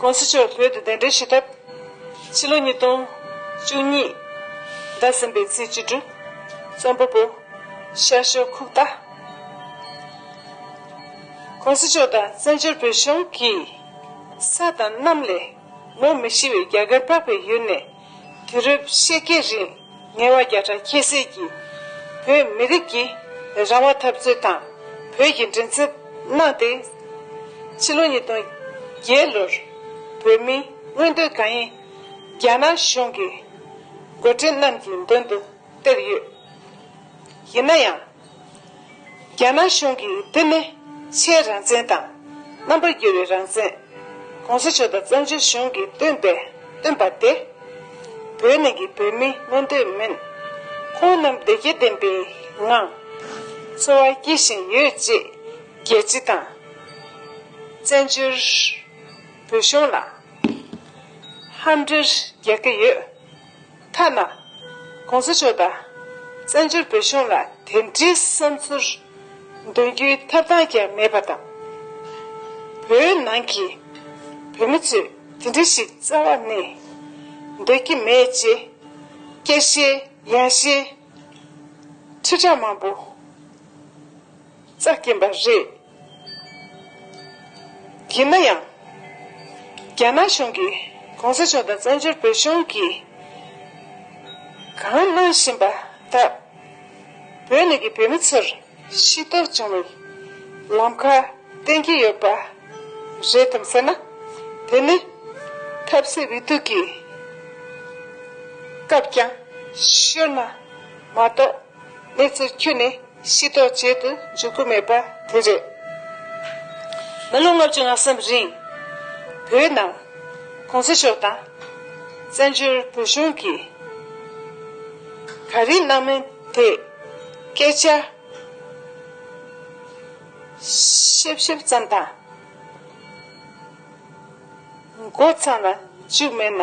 ཀུང་སི་མཆོག་བོད་དུ་གདན་འདྲེན་བྱེད་ཐབས། ཕྱི་ལོ་ཉིས་སྟོང་བཅུ་གཉིས་ཟླ་གསུམ་པའི་ཚེས་བཅུ་དྲུག་རྩོམ་པ་པོ། ཤར་ཕྱོགས་ཁུག་རྟ། ཀུང་སི་མཆོག་དང་བཙན་བྱོལ་བོད་གཞུང་གིས། ས་དང་གནམ་ལས་མོ་མི་ཤི་བའི་རྒྱ་གར་པགས་པའི་ཡུལ་ནས། དུས་རབས་ཕྱེད་ཀའི་རིང་ངལ་བ་བརྒྱ་ཕྲག་ཁྱད་བསད་ཀྱིས་བོད་མི་རིགས་ཀྱི་རང་དབང་འཐབ་རྩོད་དང་བོད་ཀྱི་མགྲིན་ཚབ་གནང་སྟེ། ཕྱི་ལོ་ཉིས་སྟོང་བརྒྱད་ལོར་བོད་མིའི་མངོན་འདོད་གང་ཡིན་རྒྱ་ནག་གཞུང་གི་འགོ་འཁྲིད་རྣམས་ཀྱི་མདུན་དུ་སྟེར་ཡོད། ཡིན་ན་ཡང། རྒྱ་ནག་གཞུང་གིས་བསྟན་མེད་ཆའི་རང་བཙན་དང། རྣམ་པར་རྒྱལ་བའི་རང་བཙན། གོང་ས་མཆོག་དང་བཙན་བྱོལ་གཞུང་གིས་བཏོན་པའི་བཏོན་པ་དེ། བོད་ནང་གི་བོད་མིས་མངོན་འདོད་མིན། ཁོང་རྣམས་བདེ་སྐྱིད་ལྡན་པའི་ངང། འཚོ་བ་སྐྱེལ་བཞིན་ཡོད་ཅེས་རྒྱལ་སྤྱི་དང། བཙན་བྱོལ་བོད་གཞུང་ལ། ཧམ་འབྲེལ་རྒྱག་གི་ཡོད། ཐ་ན་གོང་ས་མཆོག་དང་བཙན་བྱོལ་བོད་གཞུང་ལ་དེ་འདྲའི་བསམ་ཚུལ་འདོན་རྒྱུའི་ཐབས་སྟངས་ཀྱང་མེད་པ་དང། བོད་ནང་གི་བོད་མི་ཚོས་དེ་འདྲ་ཞིག་རྩ་བ་ནས་འདོད་ཀྱི་མེད་ཅེས་སྐད་ཤེད་ཡངས་ཤིང་ཁྲི་ཕྲག་མང་པོ། བརྩེགས་ཀྱིན་པ་རེད། ཡིན་ན་ཡང། རྒྱ་ནག་གཞུང་གིས་གོང་ས་མཆོག་དང་བཙན་བྱོལ་བོད་གཞུང་གིས་གང་གནང་བཞིན་པ་དག་བོད་ནས་ཀྱི་བོད་མི་ཚོར་ཤེས་རྟོགས་བྱུང་བའི་ལམ་ཁ་བསྟན་གྱི་ཡོད་པ་རེད་དམ་ཟེར་ན། དེ་ནི་ཐབས་ཟད་བི་སྡུག་གི་སྐབས་ཀྱང་ཤོར་ན་མ་གཏོགས། གནས་ཚུལ་ཁྱོན་ནས་ཤེས་རྟོགས་བྱེད་དུ་འཇུག་གི་མེད་པ་དེ་རེད། མི་ལོ་ལྔ་བཅུ་ལྔ་གསུམ་རིང། བོད་ནང ྋགོང་ས་མཆོག་དང། བཙན་བྱོལ་བོད་གཞུང་གིས་ག་རེ་གནང་མིན་དེ་སྐད་ཆ་ཤེབ་ཤེབ་ཙམ་དང། མགོ་ཚང་ལ་བཅུག་མེད་ན།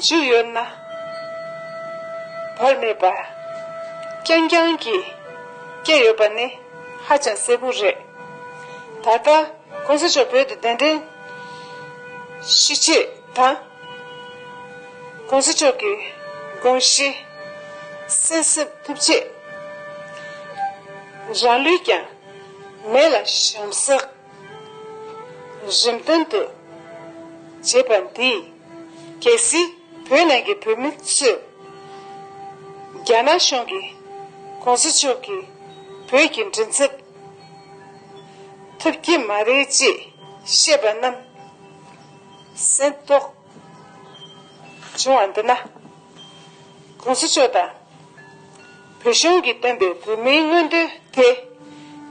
འཇུག་ཡོད་ན། བར་མེད་པར། རྐྱང་རྐྱང་གིས། བསྐྱལ་ཡོད་པ་ནི། ཧ་ཅང་གསལ་པོ་རེད། ད་ལྟ། གོང་ས་མཆོག་བོད་དུ་གདན་འདྲེན། གཞི་བྱེད་དང། གོང་ས་མཆོག་གི། དགོངས་གཞི། གསན་གསབ་ཐུབ་ཆེད། རང་ལུས་ཀྱང། མེ་ལ་བཤམས་ས། རིམ་བདུན་དུ། བྱེད་པ་འདི། གལ་སྲིད་བོད་ནང་གི་བོད་མི་ཚོས། རྒྱ་ནག་གཞུང་གིས ྋགོང་ས་མཆོག་གིས་བོད་ཀྱི་མགྲིན་ཚབ་ཐུབ་ཀྱི་མ་རེད་ཅེས་བཤད་པ་རྣམས་གཟེངས་རྟོགས་བྱུང་བ་འདི་ན། གུང་ཟི་ཆོས་དང། བོད་གཞུང་གིས་བཏོན་པའི་བོད་མིའི་མངོན་འདོད་དེ།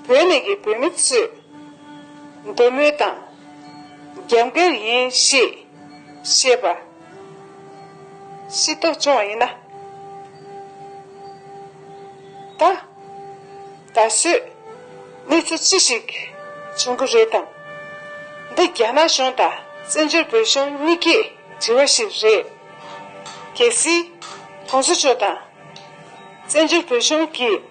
བོད་ནས་ཀྱི་བོད་མི་ཚོས་འདོད་མོས་དང། རྒྱབ་འགལ་ཡིན་ཞེས་བཤད་པ། ཤེས་རྟོགས་བྱུང་བ་ཡིན་ན། ད། ད་གཟོད། གནས་ཚུལ་ཅི་ཞིག་བྱུང་གི་རེད་དམ། འདི་རྒྱ་ནག་གཞུང་དང་བཙན་བྱོལ་བོད་གཞུང་གཉིས་ཀས། དྲི་བ་ཞིག་རེད། གལ་སྲིད། གོང་ས་མཆོག་དང། བཙན་བྱོལ་བོད་གཞུང་གིས།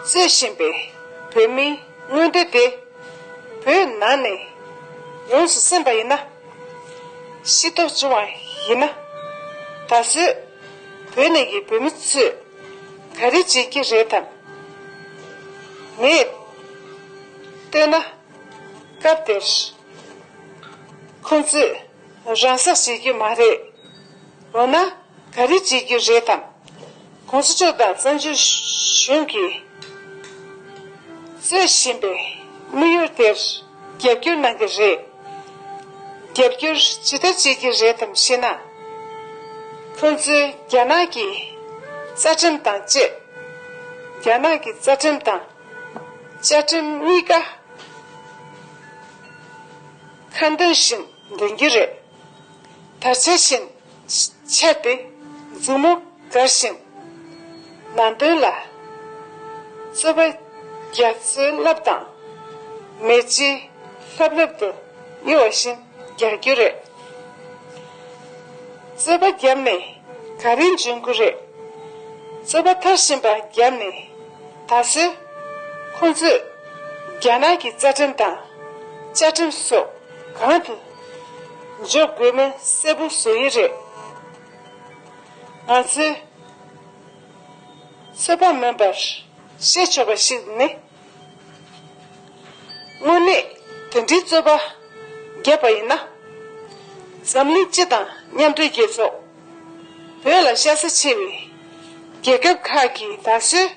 རྩོད་བཞིན་པའི་བོད་མིའི་མངོན་འདོད་དེ། བོད་ནང་ནས་ཡོངས་སུ་སེམས་པ་ཡིན་ན། ཤེས་རྟོགས་བྱུང་བ་ཡིན་ན། ད་གཟོད། བོད་ནས་ཀྱི་བོད་མི་ཚོས། ག་རེ་བྱེད་ཀྱི་རེད་དམ། ངས་ལྟོས་ན། སྐབས་དེར། ཁོང་ཚོས། རང་སྲེག་བྱེད་རྒྱུ་མ་རེད། འོ་ན། ག་རེ་བྱེད་རྒྱུ་རེད་དམ། ཁོང་ཚོ་ཕྱོགས་དང་བཙན་བྱོལ་གཞུང་གིས་གཙོས་བཞིན་པའི་དམིགས་ཡུལ་དེར་རྒྱབ་སྐྱོར་གནང་གི་རེད། རྒྱབ་སྐྱོར་ཇི་ལྟར་བྱེད་ཀྱི་རེད་དམ་ཞེ་ན། ཁོང་ཚོས་རྒྱ་ནག་གི་རྩ་ཁྲིམས་དང་བཅས། རྒྱ་ནག་གི་རྩ་ཁྲིམས་དང། བཅའ་ཁྲིམས་གཉིས་ཀ་ཁ་འདོན་བཞིན་འདོན་གྱི་རེད། དར་ཆ་བཞིན་ཆགས་ཏེ་མཛུབ་མོ་དགར་བཞིན་མ་འདོན་ལ། རྩོད་པ་རྒྱ་མཚོའི་རླབས་དང་མེ་ལྕེའི་ལྷབ་ལྷབ་ཏུ་གཡོ་བ་བཞིན་རྒྱག་རྒྱུ་རེད། རྩོད་པ་བརྒྱབ་ནས་ག་རེ་འཇོན་གི་རེད། རྩོད་པ་མཐར་ཕྱིན་པ་བརྒྱབ་ནས། ད་གཟོད། ཁོང་ཚོས་རྒྱ་ནག་གི་རྩ་ཁྲིམས་དང། བཅའ་ཁྲིམས་སོགས་གང་དུ་འཇོག་དགོས་མིན་གསལ་པོ་བཟོ་ཡི་རེད། ང་ཚོའི་ཚོད་དཔག་མིན་པར་བཤད་ཆོག་པ་ཞིག་ནི། དངོས་གནས་དེ་འདྲའི་རྩོད་པ་བརྒྱབ་པ་ཡིན་ན། འཛམ་གླིང་སྤྱི་དང་མཉམ་འབྲེལ་རྒྱལ་ཚོགས། བོད་ལ་ཤ་ཚ་ཆེ་བའི་རྒྱལ་ཁབ་ཁག་གིས་ད་གཟོད་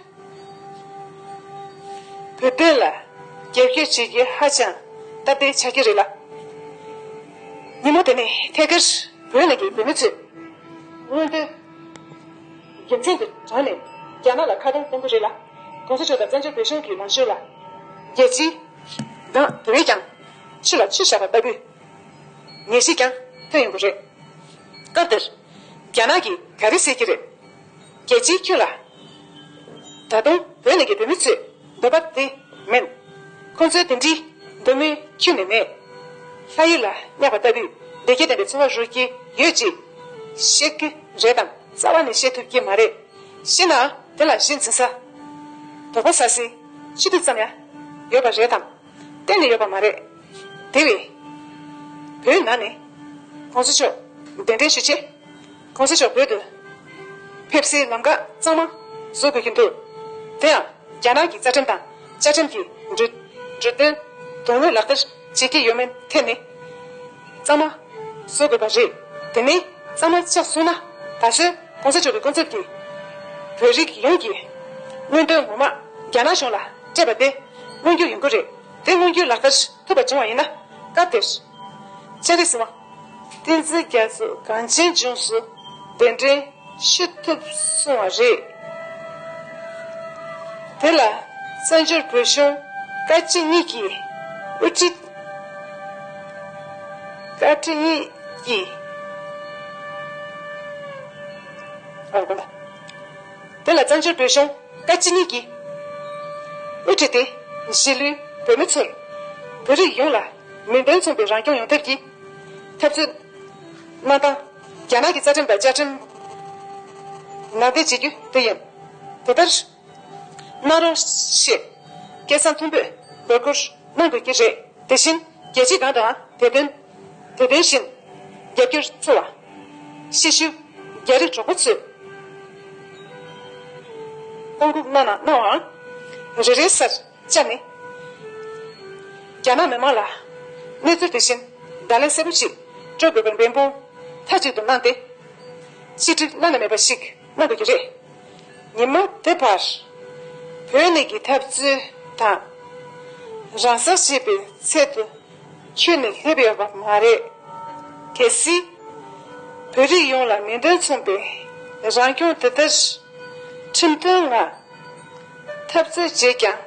བོད་དོན་ལ་རྒྱབ་སྐྱོར་བྱེད་རྒྱུ་ཧ་ཅང་སྟབས་བདེ་ཆགས་ཀྱི་རེད་ལ། ཉིན་མོ་དེ་ནི་ཐད་ཀར་བོད་ནང་གི་བོད་མི་ཚོས་མངོན་འདོད་རྒྱལ་མཚན་གྱི་དོན་ནས་རྒྱ་ནག་ལ་ཁ་གདངས་གཏོང་གི་རེད་ལ། གོང་ས་མཆོག་དང་བཙན་བྱོལ་བོད་གཞུང་གི་ལངས་ཕྱོགས་ལ་རྒྱལ་སྤྱིའི་དེ་བས་ཀྱང་ཆུ་ལ་ཆུ་བཞག་པ་ལྟ་བུའི། ངེས་ཤེས་ཀྱང་ཐོན་ཡོང་གི་རེད། སྐབས་དེར་རྒྱ་ནག་གིས་ག་རེ་བཤད་ཀྱི་རེད། རྒྱལ་སྤྱིའི་ཁྱོན་ལ། ད་དུང་བོད་ནང་གི་བོད་མི་ཚོས་འདོད་པ་དེ་མིན། ཁོང་ཚོའི་དེ་འདྲིའི་འདོད་མོས་ཁྱོན་ནས་མེད། ལྷ་ཡུལ་ལ་བསྙགས་པ་ལྟ་བུའི་བདེ་སྐྱིད་ལྡན་པའི་འཚོ་བ་རོལ་གྱི་ཡོད་ཅེས་བཤད་ཀྱི་རེད་དམ་རྩ་བ་ནས་བཤད་ཐུབ་ཀྱི་མ་རེད། ཤེས་ནའང་དེ་ལ་གཞི་འཛིན་ས། དོགས་པ་ཟ་སའི་ཕྱི་དུས་ཙམ་ཡང་ཡོད་པ་རེད་དམ། གཏན་ནས་ཡོད་པ་མ་རེད། དེ་བས། བོད་ནང་ནས། གོང་ས་མཆོག་གདན་འདྲེན་ཞུ་ཆེད། གོང་ས་མཆོག་བོད་དུ། ཕེབས་སའི་ལམ་ཁ་གཙང་མ་བཟོ་དགོས་ཀྱི་འདུག་དེ་ཡང་རྒྱ་ནག་གི་རྩ་ཁྲིམས་དང་བཅའ་ཁྲིམས་ཀྱི་འབྲུ། དོན་དངོས་ལག་བསྟར་བྱེད་ཀྱི་ཡོད་མེད་ཐད་ནས། གཙང་མ་བཟོ་དགོས་པ་རེད། དེ་མིན་གཙང་མ་ཆགས་སོང་ན། ད་གཟོད་གོང་ས་མཆོག་གི་སྐུ་ཚབ་ཀྱིས། བོད་རིགས་ཡོངས་ཀྱི། མངོན་འདོད་ངོ་མ་རྒྱ་ནག་གཞུང་ལ། སྤྲད་པ་དེ་མངོན་འགྱུར་ཡོང་གི་རེད། དེ་མངོན་འགྱུར་ལག་བསྟར་ཐུབ་པ་བྱུང་བ་ཡིན་ན། སྐབས་དེར། ཚན་རིག་སྲིད་དབང། བསྟན་འཛིན་རྒྱ་མཚོས་གངས་ཅན་ལྗོངས་སུ་གདན་འདྲེན་ཞུ་ཐུབ་སོང་བ་རེད། དེ་ལ་བཙན་བྱོལ་བོད་གཞུང་བཀའ་སྤྱི་གཉིས་ཀྱི་དབུ་ཁྲིད། བཀའ་ཁྲི་གཉིས་ཀྱི། དེ་ལ་བཙན་བྱོལ་བོད་གཞུང། བཀའ་སྤྱི་གཉིས་ཀྱིས་དབུ་ཁྲིད་དེ་གཞིས་ལུས་བོད་མི་ཚོར་བོད་རིགས་ཡོངས་ལ་མིང་དོན་མཚུངས་པའི་རང་སྐྱོང་ཡོང་ཐབས་ཀྱི་འཐབ་རྩོད་གནང་སྟངས་རྒྱ་ནག་གི་རྩ་ཁྲིམས་དང་བཅའ་ཁྲིམས་ནང་བསྟན་བྱེད་རྒྱུ་དེ་ཡིན། དེ་ལྟར་གནང་རོགས་ཞེས་སྐད་གསང་མཐོན་པོས་འབོད་སྐུལ་གནང་དགོས་ཀྱི་རེད། དེ་བཞིན་རྒྱལ་སྤྱིའི་སྒང་དུའང་དེ་དོན། དེ་བཞིན་རྒྱ་སྒྱུར་བཙུ་བ། ཤེས་ཤུལ་རྒྱ་རི་གྲོགས་པོ་ཚོས། ཀོང་ཀུག་སྣ་ནག་སྣང་བའང། རེ་རེའི་སར་བཅར་ནས། རྒྱ་ནག་མི་མང་ལ་གནས་ཚུལ་དེ་བཞིན་བརྡ་ལན་གསལ་པོ་ཞིག་སྤྲོད་དགོས་པའི་འབད་འབུངས་མཐའ་གཅིག་ཏུ་གནང་སྟེ། ཆིག་སྒྲིལ་བླ་ན་མེད་པ་ཞིག་གནང་དགོས་ཀྱི་རེད། ཉིན་མ་དེ་བར། བོད་གནས་ཀྱི་འཐབ་རྩོད་དང། རང་སར་བྱེད་པའི་ཚད་དུ་ཁྱོད་ནི་སླེབས་ཡོད་པ་མ་རེད། གལ་སྲིད། བོད་རིགས་ཡོངས་ལ་ནན་ཏན་མཚོན་པའི་རང་སྐྱོང་དེ་ལྟར་ཁྲིམས་མཐུན་ངང་འཐབ་རྩོད་བྱས་ཀྱང།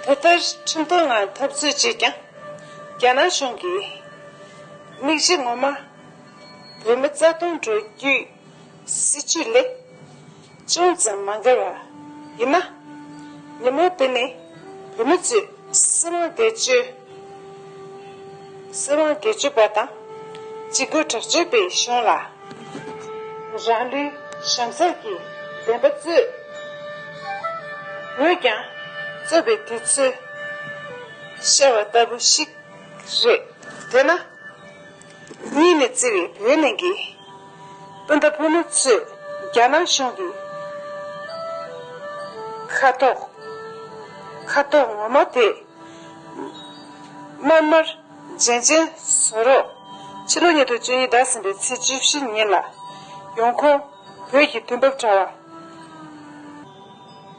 དེ་ལྟར་ཁྲིམས་མཐུན་ངང་འཐབ་རྩོད་བྱས་ཀྱང། རྒྱ་ནག་གཞུང་གིས་དམིགས་གཞི་ངོ་མ་བོད་མི་རྩ་སྟོང་འགྲོ་རྒྱུའི་སྲིད་ཇུས་ལས་ཅུང་ཙམ་མ་འགལ་བ་ཡིན་ན། ཉིན་མོ་དེ་ནི་བོད་མི་ཚོས་སྲིད་དབང་བེད་སྤྱོད་པ་དང་སྤྱི་སྒོས་དྲག་སྤྱོད་པའི་གཞུང་ལ། རང་ལུས་ཞབས་འཚལ་གྱི་བདེན་པ་རྩོད་འོས་ཀྱང་རྩོད་པའི་དུས་ཚོད་ཤར་བ་ལྟ་བུ་ཞིག་རེད། དེས་ན། གཉིས་ནས་བརྩེ་བའི་བོད་གླིང་གི། སྤུན་ཟླ་ཕོ་མོ་ཚོས་རྒྱ་ནག་གཞུང་གི། ཁ་དོག་ཁ་དོག་ངོ་མ་དེ། དམར་དམར་རྗེན་རྗེན་བཟོ་རོགས། ཕྱི་ལོ་ཉིས་སྟོང་བཅུ་གཉིས་ཟླ་གསུམ་པའི་ཚེས་བཅུ་བཞི་ཉིན་ལ། ཡོང་ཁུངས་བོད་ཀྱི་དུས་བབ་དྲ་བ།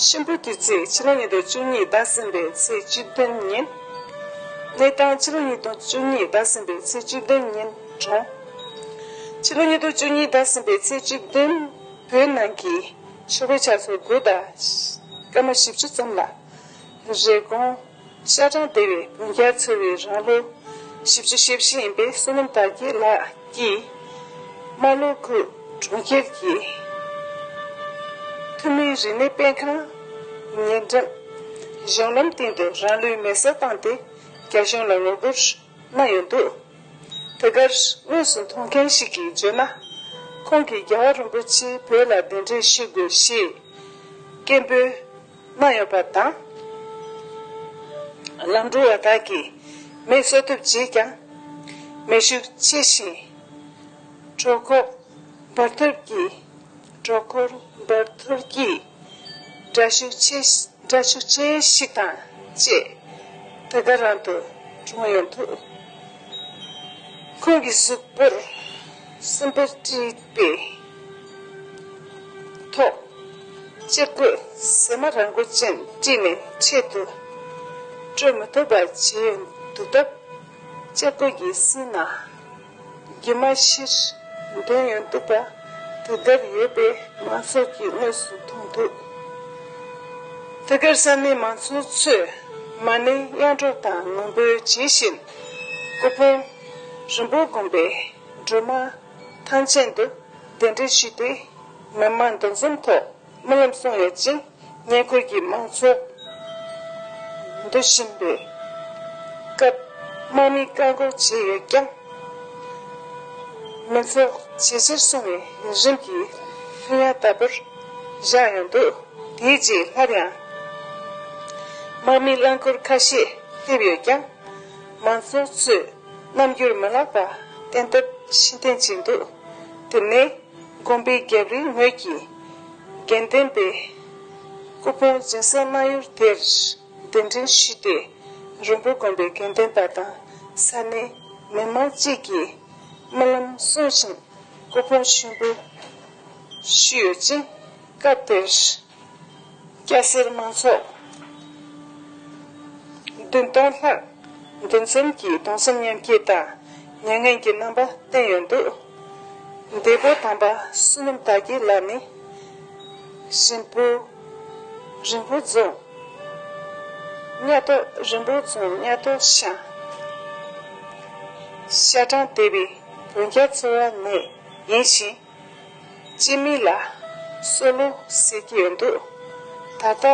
གཤིན་པོ་དུས་ཚིགས་ཕྱི་ལོ་ཉིས་སྟོང་བཅུ་གཉིས་ཟླ་གསུམ་པའི་ཚེས་བཅུ་བདུན་ཉིན། གནས་སྟངས་ཕྱི་ལོ་ཉིས་སྟོང་བཅུ་གཉིས་ཟླ་གསུམ་པའི་ཚེས་བཅུ་བདུན་ཉིན་གྲོངས། ཕྱི་ལོ་ཉིས་སྟོང་བཅུ་གཉིས་ཟླ་གསུམ་པའི་ཚེས་བཅུ་བདུན་བོད་ནང་གི་ཆོས་པའི་ཕྱག་སྲོལ་བོད་ཟླ་སྐར་མ་བཞི་བཅུ་ཙམ་ལ་རེ་སྐོང། ཤ་སྦྲང་སྡེ་བའི་བུ་བརྒྱར་འཚོ་བའི་རང་ལོ་བཞི་བཅུ་ཞེ་བཞི་ཡིན་པའི་བསོད་ནམས་དར་རྒྱས་ལགས་ཀྱིས། རྨ་ལྷོ་ཁུལ་གྲོང་ཁྱེར་གྱི་ཐུན་མིན་རིག་གནས་དཔེ་ཁང། ཉེ་འགྲམ། གཞུང་ལམ་སྟེང་དུ་རང་ལུས་མེ་སྲེག་བཏང་སྟེ་རྒྱ་གཞུང་ལ་ངོ་རྒོལ་གནང་ཡོད་འདུག་དེ་གར་དངོས་སུ་མཐོང་མཁན་ཞིག་གིས་བརྗོད་ན། ཁོང་གིས་རྒྱལ་བ་རིན་པོ་ཆེས་བོད་ལ་གདན་འདྲེན་ཞུ་དགོས་ཞེས་སྐད་འབོད་མ་ཡོད་པ་དང། ལམ་འགྲོ་བ་དག་གིས་མེ་གསོ་ཐུབ་བྱས་ཀྱང། མེ་ཤུགས་ཆེ་ཞིང། གྲོག་འཁོར་འབར་ཐོར་གྱིས། གྲོག་འཁོར་འབར་ཐོར་གྱིས། སྒྲ་ཤུགས་ཆེ། སྒྲ་ཤུགས་ཆེ་ཞིག་དང་བཅས། དེ་ག་རང་དུ་གྲོངས་ཡོང་ཐུབ། ཁོང་གི་གཟུགས་པོར་སྲིན་བུ་དཀྲིས་པས། ཐོག། གཅེར་བུ་ཟེགས་མ་རང་མགོ་ཅན་དཀྲིས་ནས་ཆེད་དུ། བཀྲོལ་མི་ཐུབ་པར་བྱས་འདུག་སྟབས། གཅེར་བུ་ཡི་སྲིད་ན། རྒྱུ་མ་ཕྱིར་འདོན་ཡོད་འདུག་པ། དེ་ལྟར་ཡོད་པས་མང་ཚོགས་ཀྱིས་དངོས་སུ་མཐོང་འདུག་དེ་གར་ས་གནས་མང་ཚོགས་ཚོས་མ་ཎི་གཡང་སྒྲོག་དང་ངུ་འབོད་བྱེད་བཞིན། སྐུ་ཕུང་རིན་པོ་སྒོམ་པའི་སྒྲོལ་མ། ཐང་ཆེན་དུ་གདན་འདྲེན་ཞུས་ཏེ་མི་དམངས་འདུ་འཛོམས་ཐོག་རྨི་ལམ་སོང་ཡོད་ཅིང་ཉེ་འཁོར་གྱི་དམངས་འཚོ་འདུ་བཞིན་པའི་སྐབས་དམག་མིས་བཀག་འགོག་བྱས་ཡོད་ཀྱང། མི་ཚོགས་ཇེ་ཆེར་སོང་བའི་རིམ་གྱིས་ལྷོད་ཡངས་ལྟ་བུར་བཞག་ཡོང་འདུག་དེའི་རྗེས་སླར་ཡང་དམག་མིའི་རླངས་འཁོར་ཁ་ཤས་སླེབས་ཡོད་ཀྱང། མང་ཚོགས་ཚོས་རྣམ་འགྱུར་མི་ལགས་པ་བསྟན་སྟབས་ཤིན་ཏེ་ལྕི་འདུག་དེ་ནས་དགོན་པའི་རྒྱབ་རིའི་ངོས་ཀྱི་དགེ་ལྡན་པའི་སྐུ་ཕུང་སྦྱིན་སྲེག་གནང་ཡུལ་དེར་གདན་འདྲེན་ཞུས་ཏེ་རོང་པོ་དགོན་པའི་དགེ་ལྡན་པ་དང་ས་གནས་མི་མང་བཅས་ཀྱིས་རྨི་ལམ་གསུང་བཞིན་སྐུ་ཕུང་ཞུ་འབུལ་ཞུས་ཡོད་ཅིང་སྐབས་དེར། སྐྱ་སེར་མང་ཚོགས་བདུན་སྟོང་ལྷག་འདུ་འཛོམས་ཀྱིས་གདུང་སེམས་མཉམ་སྐྱེད་དང་མྱ་ངན་གྱི་རྣམ་པ་བསྟན་ཡོད་འདུག་འདས་པོ་དམ་པ་བསོད་ནམས་དར་རྒྱས་ལགས་ནི་ཧྲིན་པོ་རིན་པོ་རྫོང་གཉའ་ཐོ་རིན་པོ་རྫོང་གཉའ་ཐོ་ཤང་ཤ་སྦྲང་སྡེ་བའི་བོན་རྒྱ་ཚོ་བ་ནས་ཡིན་ཞིང། སྤྱི་མིང་ལ་སོ་ལོ་ཟེར་གྱི་ཡོད་འདུག་ད་ལྟ་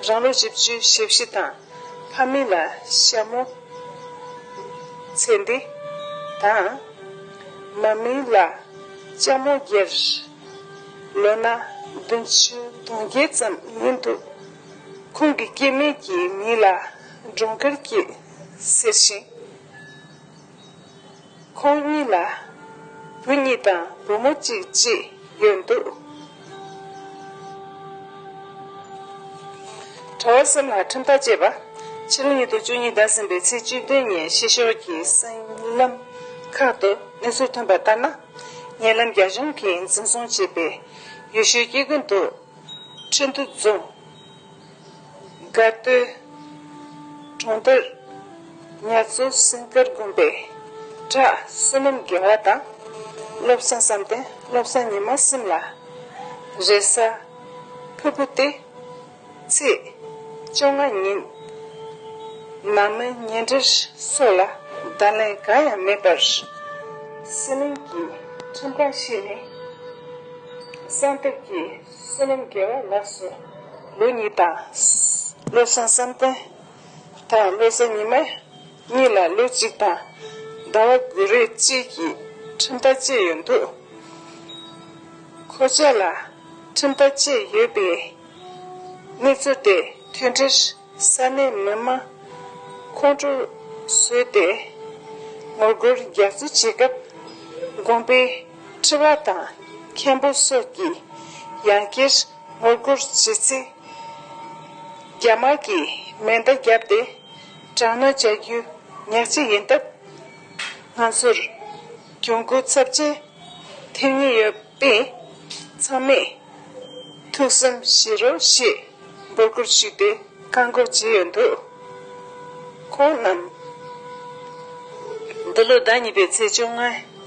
རང་ལོ་བཞི་བཅུའི་ཞེ་བཞི་དང་ཕ་མིང་ལ་ཤ་མོ། ཚེ་འདི། དང། མ་མིང་ལ་ལྕགས་མོ་རྒྱལ། ལོ་ན་བདུན་བཅུ་དུང་བརྒྱད་ཙམ་ཡིན་འདུག་ཁོང་གི་སྐྱེས་དམན་གྱི་མིང་ལ་འབྲོང་དཀར་སྐྱིད་ཟེར་ཞིང། ཁོང་གཉིས་ལ་བུ་གཉིས་དང་བུ་མོ་གཅིག་བཅས་ཡོད་འདུག། གྲྭ་བ་གསུམ་ལ་ཁྲིམས་ཐག་བཅད་པ། ཕྱི་ལོ་ཉིས་སྟོང་བཅུ་གཉིས་ཟླ་གསུམ་པའི་ཚེས་བཅུ་བདུན་ཉིན་ཕྱི་ཕྱོགས་ཀྱི་གསེང་ལམ་ཁག་ཏུ་གནས་ཚུལ་ཐོན་པ་ལྟར་ན། ཉེ་ལམ་རྒྱ་གཞུང་གིས་འཛིན་བཟུང་བྱས་པའི་ཡུལ་ཤུལ་སྐྱེ་རྒུ་མདོ་ཁྲི་འདུ་རྫོང། དགའ་སྟོན། གྲོང་རྡལ། ངལ་རྩོལ་སེམས་དཀར་དགོན་པའི་གྲྭ་བསོད་ནམས་དགེ་བ་དང། བློ་བཟང་བསམ་གཏན་བློ་བཟང་ཉི་མ་སིམ་ལ། རེས་གཟའ། ཕུར་བུ་སྟེ། ཚེས། བཅོ་ལྔ་ཉིན། ནང་མི་ཉེ་འབྲེལ་སོགས་ལ་བརྡ་ལན་གང་ཡང་མེད་པར། སྲིད་གླིང་གི་ཁྲིམས་ཁང་ཞིག་ནས། གསང་སྟབས་ཀྱིས། བསོད་ནམས་དགེ་བའི་ལེགས་སོ། ལུས་ཉིད་དང། བློ་བཟང་བསམ་གཏན་དང་བློ་བཟང་ཉི་མ་གཉིས་ལ་ལོ་གཅིག་དང་ཟླ་བ་དགུ་རེ་གཅིག་གི་ཁྲིམས་ཐག་བཅད་ཡོད་འདུག་ཁོ་བཅས་ལ་ཁྲིམས་ཐག་བཅད་ཡོད་པའི་གནས་ཚུལ་དེ་མཐུན་སྒྲིལ། ས་གནས་མི་དམངས་ཁོང་ཁྲོ་བཟོས་ཏེ་ངོ་རྒོལ་རྒྱག་རྩིས་བྱེད་སྐབས། དགོན་པའི་ཁྲི་བ་དང་མཁན་པོ་སོགས་ཀྱིས་ཡང་བསྐྱར་ངོ་རྒོལ་བྱེད་རྩིས། རྒྱ་དམར་གྱིས་མེ་མདའ་བརྒྱབ་སྟེ་དྲག་གནོན་བྱ་རྒྱུ་ཉག་ཅིག་ཡིན་སྟབས། ང་ཚོར་གྱོང་གུད་ཚབས་ཆེན་ཐེབས་ངེས་ཡོད། པས། ཚང་མས་ཐུགས་བསམ་བཞེས་རོགས་ཞེས་འབོད་སྐུལ་ཞུས་ཏེ་བཀའ་འགོག་བྱས་ཡོད་འདུག་ཁོང་རྣམས་འདི་ལོའི་ཟླ་གཉིས་པའི་ཚེས་བཅོ་ལྔ་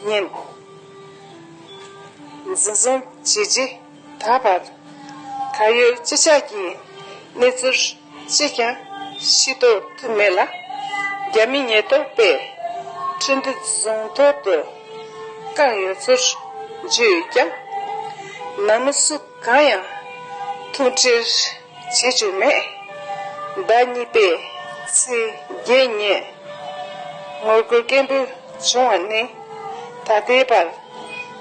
ཉིན་འཛིན་བཟུང་བྱས་རྗེས་ད་བར་ད་ཡོད་སྤྱི་ཆགས་ཀྱི་གནས་ཚུལ། ཅིས་ཀྱང་ཤེས་རྟོགས་ཐུབ་མེད་ལ། རྒྱ་མི་ཉེས་རྟོག་པས་ཁྲིན་ཏི་རྫོང་ཐོག་ཏུ་བཀག་ཡོད་ཚུལ་བརྗོད་ཡོད་ཀྱང། ནང་མི་སུ་གང་ཡང་ཐུག་འཕྲད་བྱེད་བཅུག་མེད། ཟླ་གཉིས་པའི་ཚེས་བརྒྱད་ཉིན་ངོ་རྒོལ་སྐད་འབོད་བྱུང་བ་ནས་ད་ལྟའི་བར་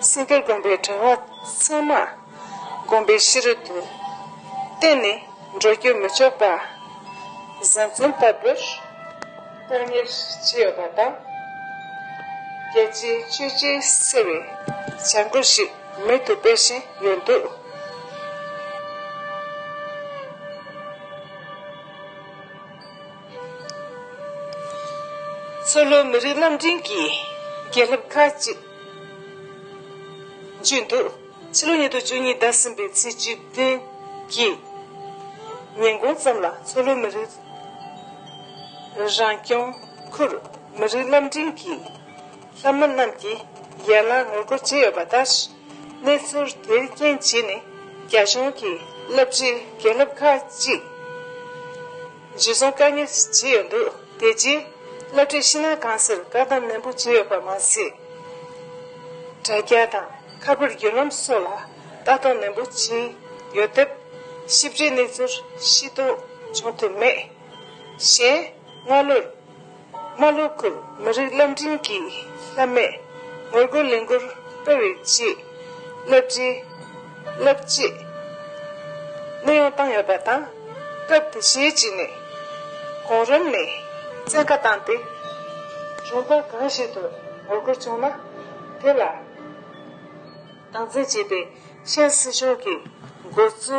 སེང་གེ་དགོན་པའི་གྲྭ་བ་ཚང་མ། བསྒོམ་པའི་གཤིས་རོལ་དུ། བསྟན་ནས་འགྲོ་རྒྱུད་མི་ལྕོགས་པ། གཟུང་འཛིན་ལྟ་བུར་སྟོང་ཉིད་ཅི་ཡོད་པ་དང། རྒྱལ་སྤྱིའི་བཅོས་བསྒྱུར་གསལ་བའི་བྱ་འགུལ་ཞིག་མེད་དུ་སྤེལ་བཞིན་ཡོད་འདུག། མཚོ་ལྷོ་མི་རིགས་རྣམ་འདྲེན་གྱི་རྒྱལ་ལྷབ་ཁག་ཅིག་འཇུས་འདུག། ཕྱི་ལོ་ཉིས་སྟོང་བཅུ་གཉིས་ཟླ་གསུམ་པའི་ཚེས་བཅུ་བདུན་གྱི་ཉིན་གུང་ཙམ་ལ་མཚོ་ལྷོ་མི་རིགས་རང་སྐྱོང་ཁུལ་མི་རིགས་རླབས་འཕྲིན་གྱི་ལྷ་མོ་རྣམས་ཀྱིས་ཡར་ལངས་ངོ་རྒོལ་བྱས་ཡོད་པ་ལྟར། གནས་ཚུལ་དེའི་རྐྱེན་བྱས་ནས་རྒྱ་གཞུང་གིས་རླབས་ཆེའི་རྒྱལ་ལྷབ་ཁག་གཅིག། རྗེས་བཟུང་བཀའ་གཉེར་བྱས་ཡོད་འདུག་དེ་རྗེས་བླ་སྤྲུལ་ཕྱི་ནང་གང་སར་བཀའ་གདམས་ནན་པོ་བྱས་ཡོད་པར་མ་ཟད། དྲ་རྒྱ་དང་ཁ་པར་བརྒྱུད་ལམ་སོགས་ལ་ལྟ་རྟོག་ནན་པོ་བྱས་ཡོད་སྟབས། ཞིབ་ཕྲའི་གནས་ཚུལ་ཤེས་རྟོགས་བྱུང་ཐུབ་མེད། གཞན། སྔ་ལོར། རྨ་ལྷོ་ཁུལ་མི་རིགས་བླ་འབྲིང་གི་ལྷ་མས་ངོ་རྒོལ་ལས་འགུལ་སྤེལ་བའི་རྗེས་བསླབ་གྲྭའི་བསླབ་བྱའི་གནས་དབྱུང་བཏང་ཡོད་པ་དང། སྐབས་དེ་ཤེད་ཅིག་ནས་གོང་རིམ་ནས་བཙན་བཀའ་བཏང་སྟེ། གཞུང་པ་གང་ཞིག་ཏུ་ངོ་རྒོལ་བྱུང་ན་དེ་ལ་སྟངས་འཛིན་བྱེད་པའི་ཤན་སྲིད་གཞུང་གི་འགོ་གཙོ།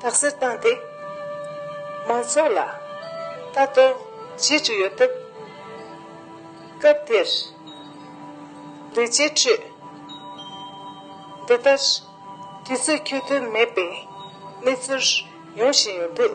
དག་སེལ་བཏང་སྟེ། མང་ཚོགས་ལ་ལྟ་རྟོག་བྱེད་ཀྱི་ཡོད་སྟབས། སྐབས་དེར་ལས་བྱེད་ཁྲོད། འདི་ལྟར་དུས་ཚོད་ཁྱོལ་དོན་མེད་པའི་གནས་ཚུལ་ཡོང་བཞིན་ཡོད་འདུག།